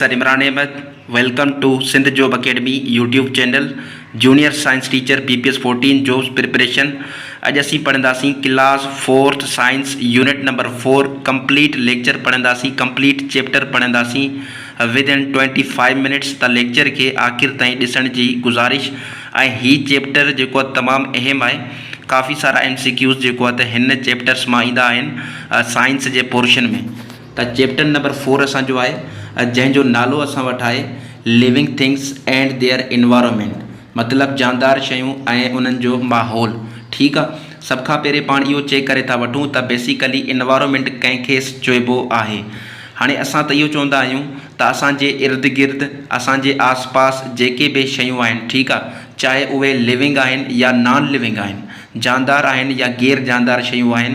Sir Imran Ahmed welcome to Sindh job academy YouTube channel junior science teacher P P S fourteen jobs preparation اڄ اسين پڙهنداسين class fourth science unit number four complete lecture پڙهنداسين complete chapter پڙهنداسين within twenty five minutes ته lecture کي آخر تائين ڏسڻ جي گذارش ۽ هي چيپٽر جيڪو آهي تمام اهم آهي ڪافي سارا ايم سي ڪيوز جيڪو آهي ته هن چيپٽرس مان ايندا آهن سائنس جي پورشن ۾. ته چيپٽر نمبر فور اسان جو آهي جنهن جو نالو اسان وٽ آهي Living Things and Their Environment مطلب جاندار شيون ۽ انهن جو ماحول ٺيڪ آ سڀ کان پهرين پاڻ اهو چيڪ ڪري ٿا وٺون ته بيسيڪلي انوائرمينٽ ڪنهن کي چئبو آهي هاڻي اسان ته اهو چوندا آهيون ته اسان جي ارد گرد اسان جي آس پاس جيڪي به شيون آهن ٺيڪ آ چاهي اهي Living آهن يا نان Living آهن جاندار آهن يا غير جاندار شيون آهن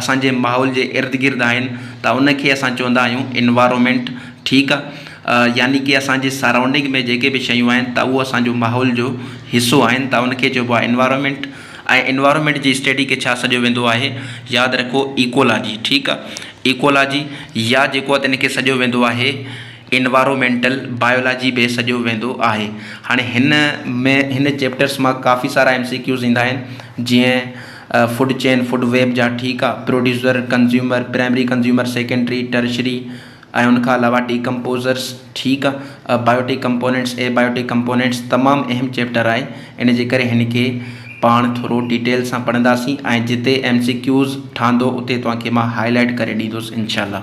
اسان جي ماحول جي ارد گرد آهن ته ان کي اسان چوندا آهيون Environment ٺيڪ آ يعني ڪي اسان جي سراونڊنگ ۾ جيڪي به شيون آهن ته اهو اسان جو ماحول جو حصو آهن ته ان کي چئبو آهي Environment ۽ Environment جي اسٽيڊي کي ڇا سڏيو ويندو آهي ياد رکو ايڪولاجي ٺيڪ آ ايڪولاجي يا جيڪو آ ته ان کي سڏيو ويندو آهي انوائرومينٽل بايولاجي به سڏيو ويندو آهي هاڻي هن ۾ هن چيپٽرس مان ڪافي سارا ايم سي ڪيوز ايندا آهن جيئن فوڊ چين فوڊ ويب جا ٺيڪ آهي producer consumer primary consumer secondary tertiary ۽ ان کان علاوه ڊي ڪمپوزرس ٺيڪ آهي بايوٽي ڪمپونينٽس اي بايوٽي ڪمپونينٽس تمام اهم چيپٽر آهي ان جي ڪري هن کي پاڻ ٿورو ڊيٽيل سان پڙهنداسين ۽ جتي ايم سي ڪيوز ٺهندو اتي توهان کي مان هائلائٽ ڪري ڏيندوس انشاء الله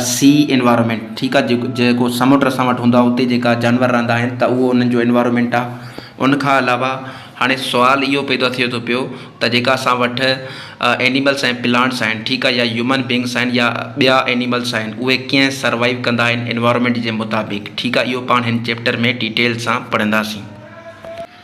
سي انوائرمينٽ ٺيڪ آ جيڪو سمنڊ اسان وٽ هوندا اتي جيڪا جانور رهندا آهن ته اهو انهن جو انوائرمينٽ آ ان کان علاوه هاڻي سوال اهو پيدا ٿئي ٿو پيو ته جيڪا اسان وٽ اينيملس ۽ پلانٽس آهن ٺيڪ آ يا هيومن بينگس آهن يا ٻيا اينيملس آهن اهي ڪيئن سروائيو ڪندا آهن انوائرمينٽ جي مطابق ٺيڪ آ اهو پاڻ هن چيپٽر ۾ ڊيٽيل سان پڙهنداسين.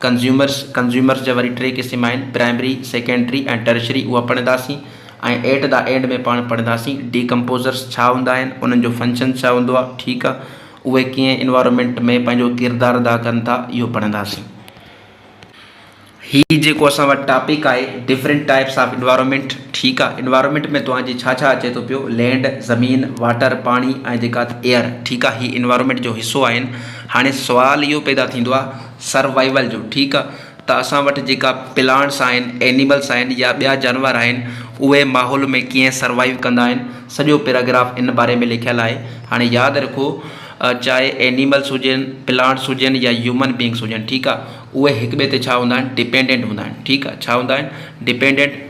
ڪنزيومرس، Consumers، جا وري ٽي قسم آهن، پرائمري، سيڪنڊري ۽ ٽرشري، اها پڙهنداسين ۽ ايٽ دا اينڊ ۾ پاڻ پڙهنداسين، ڊي ڪمپوزرس ڇا هوندا آهن، انهن جو فنڪشن ڇا هوندو آهي، ٺيڪ آهي، اهي ڪيئن انوائرمينٽ ۾ پنهنجو ڪردار ادا ڪن ٿا، اهو پڙهنداسين. هي جيڪو اسان وٽ ٽاپڪ آهي، ڊفرنٽ ٽائپس آف انوائرمينٽ، ٺيڪ آهي، انوائرمينٽ ۾ توهان جي ڇا ڇا اچي ٿو پيو، لينڊ، زمين، واٽر، پاڻي ۽ جيڪا ايئر، ٺيڪ آهي، هي انوائرمينٽ جو حصو آهن، هاڻي سوال اهو پيدا ٿيندو آهي. سروائيول جو ٺيڪ ته اسان وٽ جيڪا پلانٽس آهن اينيملس آهن يا ٻيا جانور آهن اهي ماحول ۾ ڪيئن سروائيو ڪندا آهن سڄو پيراگراف ان باري ۾ لکيل آهي هاڻي ياد رکو چاهي اينيملس هجن پلانٽس هجن يا هيومن بينگس هجن ٺيڪ آهي اهي هڪ ٻئي تي ڇا هوندا آهن ڊپينڊنٽ هوندا آهن ٺيڪ آهي ڇا هوندا آهن ڊپينڊنٽ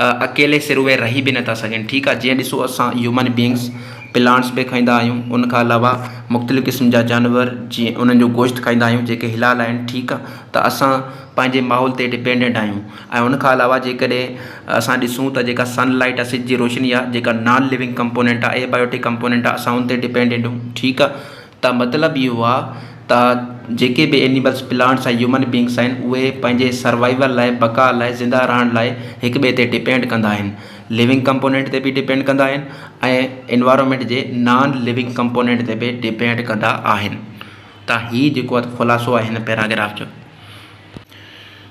اڪيلي سر اهي رهي به نٿا سگهن ٺيڪ آهي جيئن ڏسو اسان هيومن بينگس پلانٽس به کائيندا آهيون ان کان علاوه مختلف قسم جا جانور جيئن انهن جو گوشت کائيندا آهيون جيڪي حلال آهن ٺيڪ آهي ته اسان پنهنجي ماحول تي ڊپينڊنٽ آهيون ۽ ان کان علاوه جيڪڏهن اسان ڏسون ته جيڪا سن لائيٽ آهي سج جي روشني آهي جيڪا نان لوينگ ڪمپوننٽ آهي اي بايوٽڪ ڪمپوننٽ آهي اسان ان تي ڊپينڊنٽ آهيون ٺيڪ آهي ته مطلب اهو آهي ته جيڪي به اينيملز، پلانٽس ۽ هيومن بينگس آهن اهي پنهنجي سروائيول لاء، بقا لاء، زنده رهڻ لاء هڪ ٻئي تي ڊپينڊ ڪندا آهن. ليونگ ڪمپونينٽ تي به ڊپينڊ ڪندا آهن ۽ انوائرنمينٽ جي نان ليونگ ڪمپونينٽ تي به ڊپينڊ ڪندا آهن. ته هي جيڪو خلاصو آهي هن پيراگراف جو.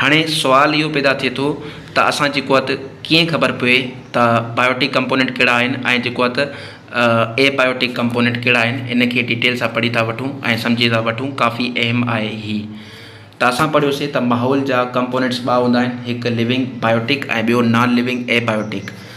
هاڻي سوال اهو پيدا ٿئي ٿو ته اسان جيڪو آهي ته ڪيئن خبر پوي ته بائيوٽڪ ڪمپونينٽ ڪهڙا آهن ۽ جيڪو آهي ته اي بائيوٽڪ ڪمپونينٽ ڪهڙا آهن ان کي ڊيٽيل سان پڙهي ٿا وٺون ۽ سمجهي ٿا وٺون ڪافي اهم آهي هي ته اسان پڙهيوسي ته ماحول جا ڪمپونينٽس ٻه هوندا آهن هڪ لوينگ بائيوٽڪ ۽ ٻيو نان لوينگ اي بائيوٽڪ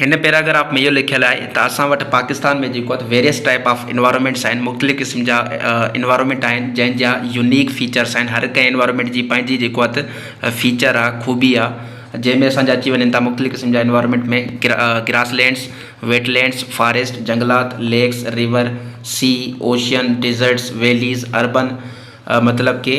هن پيراگراف ۾ اهو لکيل آهي ته اسان وٽ پاڪستان ۾ جيڪو آهي ويريس ٽائيپ آف انوائرمينٽس آهن مختلف قسم جا انوائرمينٽ آهن جنهن جا يونيڪ فيچرس آهن هر ڪنهن انوائرمينٽ جي پنهنجي جيڪو آهي ته فيچر آهي خوبي آهي جنهن ۾ اسان جا اچي وڃن ٿا مختلف قسم جا environment ۾ grasslands wetlands forest جنگلات lakes river sea ocean deserts valleys urban مطلب ڪي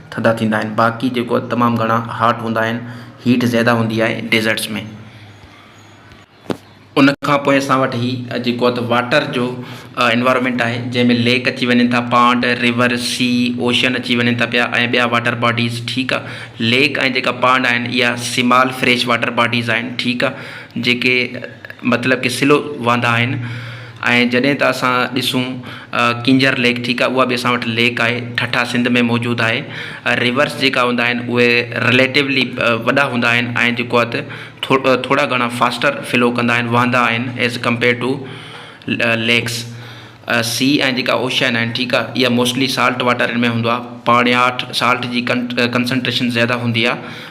ٿڌا ٿيندا آهن باقي جيڪو تمام گهڻا هاٽ هوندا آهن هيٽ زياده هوندي آهي ڊيزرٽس ۾ ان کان پوء اسان وٽ هي جيڪو آهي ته واٽر جو انوائرمينٽ آهي جنهن ۾ ليڪ اچي وڃن ٿا پانڊ ريور سي اوشن اچي وڃن ٿا پيا ۽ ٻيا واٽر باڊيز ٺيڪ آهي ليڪ ۽ جيڪا پانڊ آهن اها سمال فريش واٽر باڊيز آهن ٺيڪ آهي جيڪي مطلب ڪي سلو وهندا آهن ۽ جڏهن ته اسان ڏسون ڪينجهر ليڪ ٺيڪ آهي اها به اسان وٽ ليڪ آهي ٺٽا سنڌ ۾ موجود آهي ريورس جيڪا هوندا آهن اهي رليٽوولي وڏا هوندا آهن ۽ جيڪو آهي ته ٿورو ٿورا گهڻا فاسٽر فلو ڪندا آهن وهندا آهن as compare to lakes sea ۽ جيڪا اوشائن آهن ٺيڪ آهي اها موسٽلي سالٽ واٽر ۾ هوندو آهي پاڻياٺ سالٽ جي ڪن ڪنسنٽريشن زياده هوندي آهي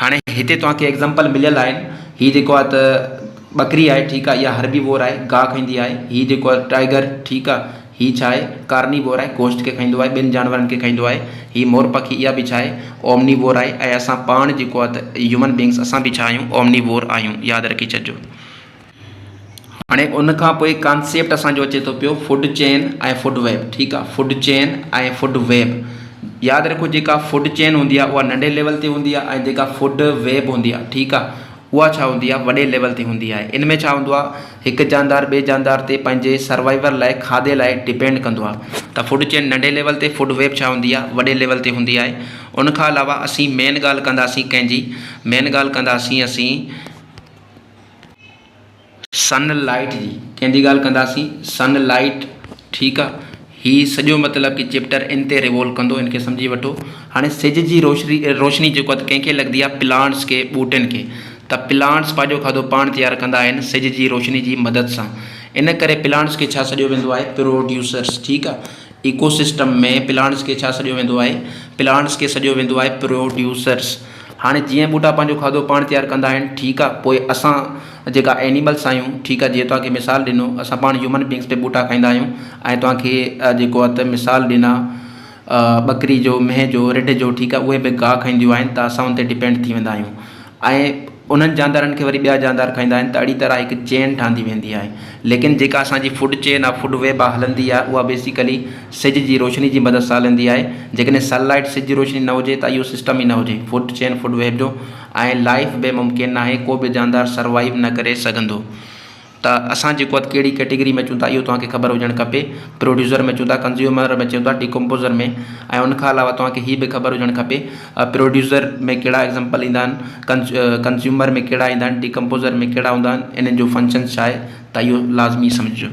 هاڻي هتي توهان کي ايگزامپل مليل آهن هي جيڪو آهي ته ٻڪري آهي ٺيڪ آهي اها هربي وور آهي گاهه کائيندي آهي هي جيڪو آهي ٽائيگر ٺيڪ آهي هي ڇا آهي ڪارني وور آهي گوشت کي کائيندو آهي ٻين جانورن کي کائيندو آهي هي مور پکي اها به ڇا آهي اومني وور آهي ۽ اسان پاڻ جيڪو آهي ته هيومن بينگس اسان به ڇا آهيون اومني وور آهيون ياد رکي ڇڏجو. هاڻي ان کان پوء ڪانسيپٽ اسان جو اچي ٿو پيو فوڊ چين ۽ فوڊ ويب ٺيڪ آهي فوڊ چين ۽ فوڊ ويب ياد رکو جيڪا فوڊ چين هوندي آهي اها ننڍي ليول تي هوندي آهي ۽ جيڪا فوڊ ويب هوندي آهي ٺيڪ آهي اها ڇا هوندي آهي وڏي ليول تي هوندي آهي ان ۾ ڇا هوندو آهي هڪ جاندار ٻئي جاندار تي پنهنجي سروائيول لاء کاڌي لاء ڊپينڊ ڪندو آهي ته فوڊ چين ننڍي ليول تي فوڊ ويب ڇا هوندي آهي وڏي ليول تي هوندي آهي ان کان علاوه اسين مين ڳالهه ڪنداسين ڪنهنجي مين ڳالهه ڪنداسين اسين سن لائيٽ جي ڪنهن جي ڳالهه ڪنداسين سن لائيٽ ٺيڪ آ هي سڄو مطلب ڪي چيپٽر ان تي ريوول ڪندو ان کي سمجهي وٺو هاڻي سج جي روشني روشني جيڪو ڪنهن کي لڳندي آ پلانٽس کي ٻوٽن کي ته پلانٽس پنهنجو کاڌو پاڻ تيار ڪندا آهن سج جي روشني جي مدد سان ان ڪري پلانٽس کي ڇا سڏيو ويندو آهي پروڊيوسرس ٺيڪ آ ايڪو سسٽم ۾ پلانٽس کي ڇا سڏيو ويندو آهي؟ پلانٽس کي سڏيو ويندو آهي پروڊيوسرس. هاڻي جيئن ٻوٽا پنهنجو کاڌو پاڻ تيار ڪندا آهن ٺيڪ آهي پوء اسان جيڪا اينيملس آهيون ٺيڪ آهي جيئن توهان کي مثال ڏنو اسان پاڻ هيومن بينگس به ٻوٽا کائيندا آهيون ۽ توهان کي جيڪو آهي ته مثال ڏنا ٻڪري جو مينهن جو رڍ جو ٺيڪ آهي اهي به گاهه کائينديون آهن ته اسان ان تي ڊپينڊ ٿي ويندا آهيون. ۽ انهن جاندارن کي وري ٻيا جاندار کائيندا آهن ته اهڙي طرح هڪ چين ٺهندي ويندي آهي ليڪن جيڪا اسان جي فوڊ چين آهي فوڊ ويب آهي هلندي آهي اها بيسيڪلي سج جي روشني جي مدد سان هلندي آهي جيڪڏهن سن لائيٽ سج جي روشني نه هجي ته اهو سسٽم ئي نه هجي فوڊ چين فوڊ ويب جو ۽ لائف به ممڪن ناهي ڪو به جاندار سروائيو نه ڪري سگهندو. ته اسان جيڪو اٿ ڪهڙي ڪيٽيگري ۾ اچون ٿا اهو توهان کي خبر هجڻ کپي پروڊيوسر ۾ اچون ٿا ڪنزيومر ۾ اچون ٿا ڊيڪمپوزر ۾ ۽ ان کان علاوه توهان کي هي به خبر هجڻ کپي پروڊيوسر ۾ ڪهڙا ايگزامپل ايندا آهن ڪنز ڪنزيومر ۾ ڪهڙا ايندا آهن ڊيڪمپوزر ۾ ڪهڙا هوندا آهن انهن جو فنڪشنس ڇا آهي ته اهو لازمي سمجهجو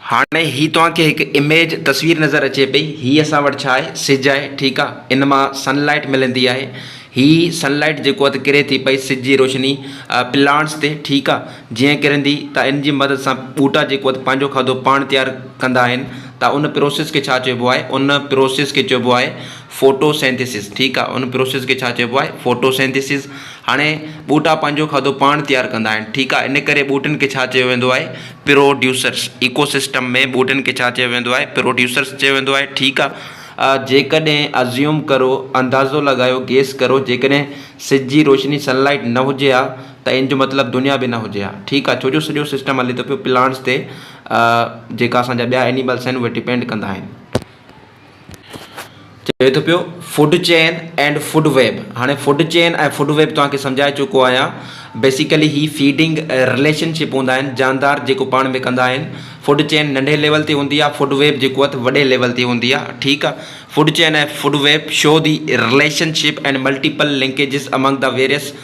هاڻي هي توهان کي هڪ اميج، تصوير، نظر اچي پئي. هي اسان وٽ ڇا آهي؟ سج آهي، ٺيڪ آ. ان مان سن لائيٽ ملندي آهي. هي سن لائيٽ جيڪو آهي ته ڪري ٿي پئي سج جي روشني پلانٽس تي، ٺيڪ آ. جيئن ڪرندي ته ان جي مدد سان ٻوٽا جيڪو آهي ته پنهنجو کاڌو پاڻ تيار ڪندا آهن ته ان پروسيس کي ڇا چئبو آهي؟ ان پروسيس کي چئبو آهي فوٽو سينٿيسز، ٺيڪ آ. ان پروسيس کي ڇا چئبو آهي؟ Photosynthesis. هاڻي ٻوٽا پنهنجو کاڌو پاڻ تيار ڪندا آهن ٺيڪ آهي ان ڪري ٻوٽن کي ڇا چيو ويندو آهي پروڊيوسرس ايڪو سسٽم ۾ ٻوٽن کي ڇا چيو ويندو آهي پروڊيوسرس چيو ويندو آهي ٺيڪ آهي جيڪڏهن ازيوم ڪرو اندازو لڳايو گيس ڪرو جيڪڏهن سج جي روشني سن لائيٽ نه هجي ها ته ان جو مطلب دنيا به نه هجي ها ٺيڪ آهي ڇو جو سڄو سسٽم هلي ٿو پيو پلانٽس تي جيڪا اسان جا ٻيا اينيملس آهن اهي ڊپينڊ ڪندا آهن. چوي ٿو پيو food chain and food web هاڻي فوڊ چين ۽ فوڊ ويب توهان کي سمجهائي چڪو آهيان بيسيڪلي هي فيڊنگ رليشن شپ هوندا آهن جاندار جيڪو پاڻ ۾ ڪندا آهن فوڊ چين ننڍي ليول تي هوندي آهي فوڊ ويب جيڪو اٿ وڏي ليول تي هوندي آهي ٺيڪ آهي food chain ۽ food web show the relationship and multiple linkages among the various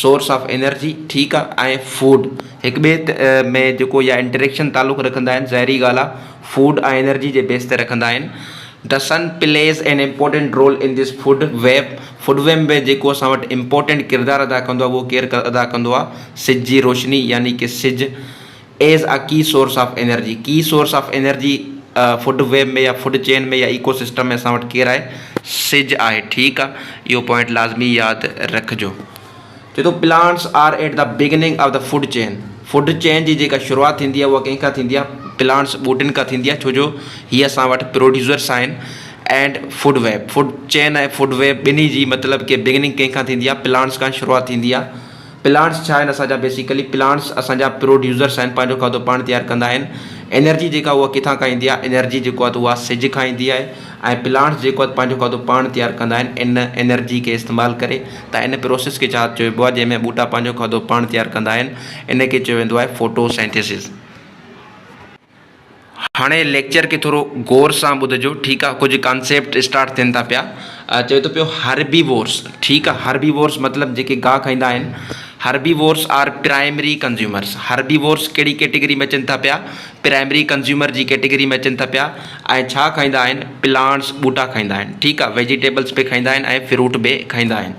source of energy ٺيڪ آ ۽ فوڊ هڪ ٻئي ۾ جيڪو يا انٽريڪشن تعلق رکندا آهن ظاهري ڳالھ آ فوڊ ۽ انرجي جي بيس تي رکندا آهن the sun plays an important role in this food web food web وي جيڪو اسان وٽ امپورٽينٽ ڪردار ادا ڪندو آ اهو ڪير ادا ڪندو آ سج جي روشني يعني ڪي سج ايز اي ڪي سورس آف انرجي، ڪي source of energy food web ۾ يا فوڊ چين ۾ يا ايڪو سسٽم ۾ اسان وٽ ڪير آهي؟ سج آهي ٺيڪ آ اهو پوائنٽ لازمي ياد رکجو. چئي ٿو plants are at the beginning of the food chain, food chain جي جيڪا شروعات ٿيندي آهي اها ڪنهن کان ٿيندي آهي پلانٽس ٻوٽين کان ٿيندي آهي ڇو جو هي اسان وٽ پروڊيوسرس آهن and food web food chain ۽ food web ٻنهي جي مطلب ڪي بگننگ ڪنهن کان ٿيندي آهي پلانٽس کان شروعات ٿيندي آهي. پلانٽس ڇا آهن اسان جا بيسيڪلي پلانٽس اسان جا پروڊيوسرس آهن پنهنجو کاڌو پاڻ تيار ڪندا آهن انرجي جيڪا اها ڪٿان کان ايندي آهي انرجي جيڪو آهي اها سج کان ايندي آهي ۽ پلانٽس جيڪو آهي پنهنجو کاڌو پاڻ تيار ڪندا آهن ان انرجي کي استعمال ڪري ته ان پروسيس کي ڇا چئبو آهي جنهن ۾ ٻوٽا پنهنجو کاڌو پاڻ تيار ڪندا آهن ان کي چيو ويندو آهي فوٽو سينٿيسز. هاڻي ليڪچر کي ٿورو غور سان ٻڌجو ٺيڪ آ ڪجهه ڪانسيپٽ اسٽارٽ ٿين ٿا پيا چوي ٿو پيو هربيوورس ٺيڪ آ هربيوورس مطلب جيڪي گاهه کائيندا آهن herbivores are primary consumers herbivores ڪهڙي ڪيٽيگري ۾ اچن ٿا پيا پرائمري ڪنزيومر جي ڪيٽيگري ۾ اچن ٿا پيا ۽ ڇا کائيندا آهن پلانٽس ٻوٽا کائيندا آهن ٺيڪ آ ويجيٽيبلس به کائيندا آهن ۽ فروٽ به کائيندا آهن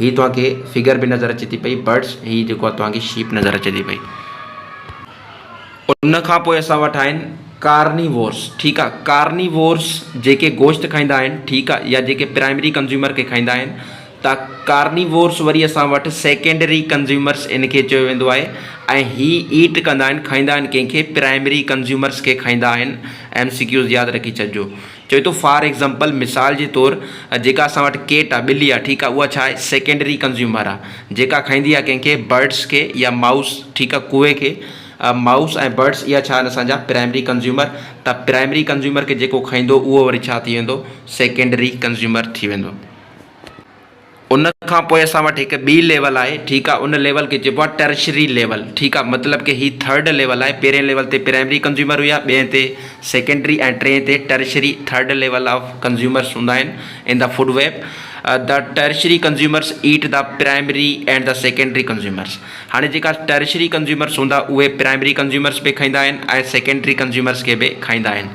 هي توهان کي فگر به نظر اچي ٿي پئي برڊس هي جيڪو آهي توهان کي شيپ نظر اچي ٿي پئي ان کان پوء اسان وٽ آهن ڪارنيوورس ٺيڪ آهي ڪارنيوورس جيڪي گوشت کائيندا آهن ٺيڪ آهي يا جيڪي پرائمري ڪنزيومر کي کائيندا آهن ته ڪارنيوورس وري اسان وٽ سيڪنڊري ڪنزيومرس ان کي چيو ويندو آهي ۽ هي ايٽ ڪندا آهن کائيندا آهن ڪنهن کي پرائمري ڪنزيومرس کي کائيندا آهن ايم سي ڪيوز ياد رکي ڇڏجو چوي ٿو فار ايگزامپل مثال جي طور جيڪا اسان وٽ ڪيٽ آ، ٻلي آ، ٺيڪ آ، اها ڇا آهي سيڪنڊري ڪنزيومر آ، جيڪا کائيندي آ ڪنهن کي برڊس کي يا مائوس ٺيڪ آ ڪوئي کي، مائوس ۽ برڊس اها ڇا آهن اسان جا پرائمري ڪنزيومر ته پرائمري ڪنزيومر کي جيڪو کائيندو اهو وري ڇا ٿي ويندو سيڪنڊري ڪنزيومر ٿي ويندو. ان کان پوء اسان وٽ هڪ ٻي ليول آهي ٺيڪ آهي ان ليول کي چئبو آهي ٽرشري ليول ٺيڪ آهي مطلب ڪه هي ٿرڊ ليول آهي پهرين ليول تي پرائمري ڪنزيومر هيا ٻئين تي سيڪنڊري ۽ ٽئين تي tertiary third level of consumers هوندا آهن in the food web the tertiary consumers eat the primary and the secondary consumers هاڻي جيڪا ٽرشري ڪنزيومرس هوندا اهي پرائمري ڪنزيومرس به کائيندا آهن ۽ سيڪنڊري ڪنزيومرس کي به کائيندا آهن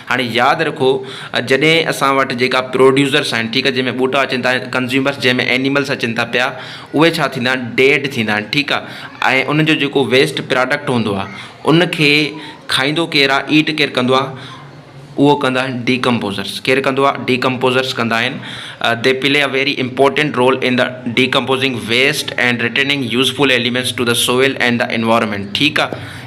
هاڻي ياد رکو جڏهن اسان وٽ جيڪا پروڊيوسرس آهن ٺيڪ آهي جنهن ۾ ٻوٽا اچن ٿا ڪنزيومرس جنهن ۾ اينيملس اچن ٿا پيا اهي ڇا ٿيندا آهن ڊيڊ ٿيندا آهن ٺيڪ آهي ۽ انهن جو جيڪو ويسٽ پراڊڪٽ هوندو آهي ان کي کائيندو ڪير آهي ايٽ ڪير ڪندو آهي اهو ڪندا آهن ڊيڪمپوزرس ڪير ڪندو آهي ڊيڪمپوزرس ڪندا آهن they play a very important role in the decomposing waste and returning useful elements to the soil and the environment ٺيڪ آهي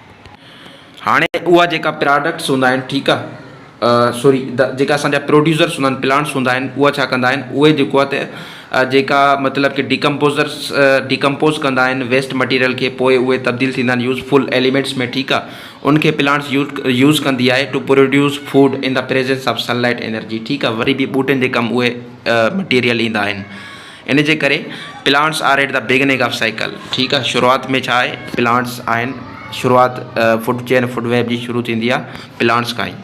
هاڻي اها جيڪا پراڊڪٽس هوندا آهن ٺيڪ آ سوري جيڪا اسان جا پروڊيوسرس هوندا آهن پلانٽس هوندا آهن اها ڇا ڪندا آهن اهي جيڪو آ ته جيڪا مطلب ڪي ڊيڪمپوزرس ڊيڪمپوز ڪندا آهن ويسٽ مٽيريل کي پوء اهي تبديل ٿيندا آهن يوز فل ايليمينٽس ۾ ٺيڪ آ ان کي پلانٽس يوز يوز ڪندي آهي to produce food in the presence of sunlight energy ٺيڪ آ وري به ٻوٽن جي ڪم اهي مٽيريل ايندا آهن ان جي ڪري plants are at the beginning of cycle ٺيڪ آ شروعات ۾ ڇا آهي پلانٽس آهن شروعات فوڊ چين فوڊ ويب جي شروع ٿيندي آ پلانٽس کان ئي.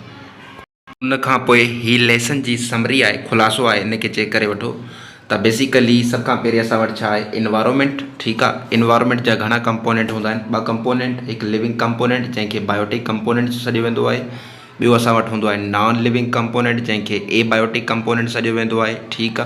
ان کان پوء هي ليسن جي سمري آهي خلاصو آهي ان کي چيڪ ڪري وٺو ته بيسيڪلي سڀ کان پهرين اسان وٽ ڇا آهي انوائرمينٽ ٺيڪ آ انوائرمينٽ جا گهڻا ڪمپونينٽ هوندا آهن ٻه ڪمپونينٽ هڪ ليونگ ڪمپونينٽ جنهن کي بايوٽڪ ڪمپونينٽ سڏيو ويندو آهي ٻيو اسان وٽ هوندو آهي نان ليونگ ڪمپونينٽ جنهن کي اي بايوٽڪ ڪمپونينٽ سڏيو ويندو آهي ٺيڪ آ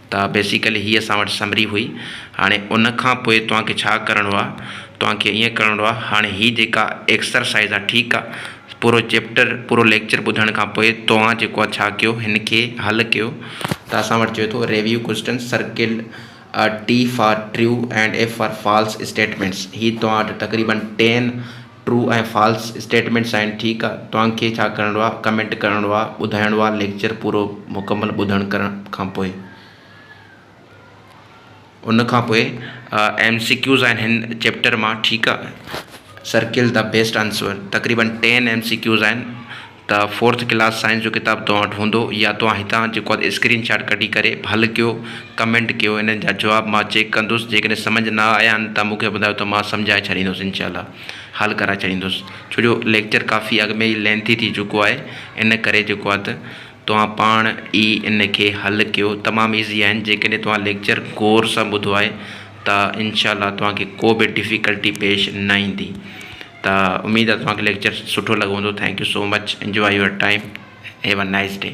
ته بيسيڪلي هي اسان وٽ سمري هئي هاڻي ان کان پوء توهان کي ڇا ڪرڻو آ توهان کي ائين ڪرڻو آ هاڻي هي جيڪا ايڪسرسائز آ ٺيڪ آ پورو چيپٽر پورو ليڪچر ٻڌڻ کان پوء توهان جيڪو آ ڇا ڪيو هن کي حل ڪيو ته اسان وٽ چوي ٿو review question circle T for true and F for false statements هي توهان وٽ تقريبن ٽين ٽرو ۽ فالس اسٽيٽمينٽ سائين ٺيڪ آ توهان کي ڇا ڪرڻو آ ڪمينٽ ڪرڻو آ ٻڌائڻو آ ليڪچر پورو مڪمل ٻڌڻ ڪرڻ کان پوء ان کان پوء ايم سي ڪيوز آهن هن چيپٽر مان ٺيڪ آ سرڪل دا بيسٽ آنسور تقريبن ٽين ايم سي ڪيوز آهن ته فورٿ ڪلاس سائنس جو ڪتاب توهان وٽ هوندو يا توهان هتان جيڪو آهي اسڪرين شاٽ ڪڍي ڪري حل ڪيو ڪمينٽ ڪيو انهن جا جواب مان چيڪ ڪندس جيڪڏهن سمجهه نه آيا آهن ته مونکي ٻڌايو ته مان سمجهائي ڇڏيندس انشاء الله حل ڪرائي ڇڏيندس ڇو جو ليڪچر ڪافي اڳ ۾ ئي لينٿي ٿي چڪو آهي ان ڪري جيڪو آهي ته توهان پاڻ ئي ان کي حل ڪيو تمام ايزي آهن جيڪڏهن توهان ليڪچر غور سان ٻڌو آهي ته انشاء الله توهان کي ڪو به ڊفيڪلٽي پيش نه ايندي. ته اميد آهي توهان کي ليڪچر سٺو لڳو هوندو thank you so much enjoy your time have a nice D.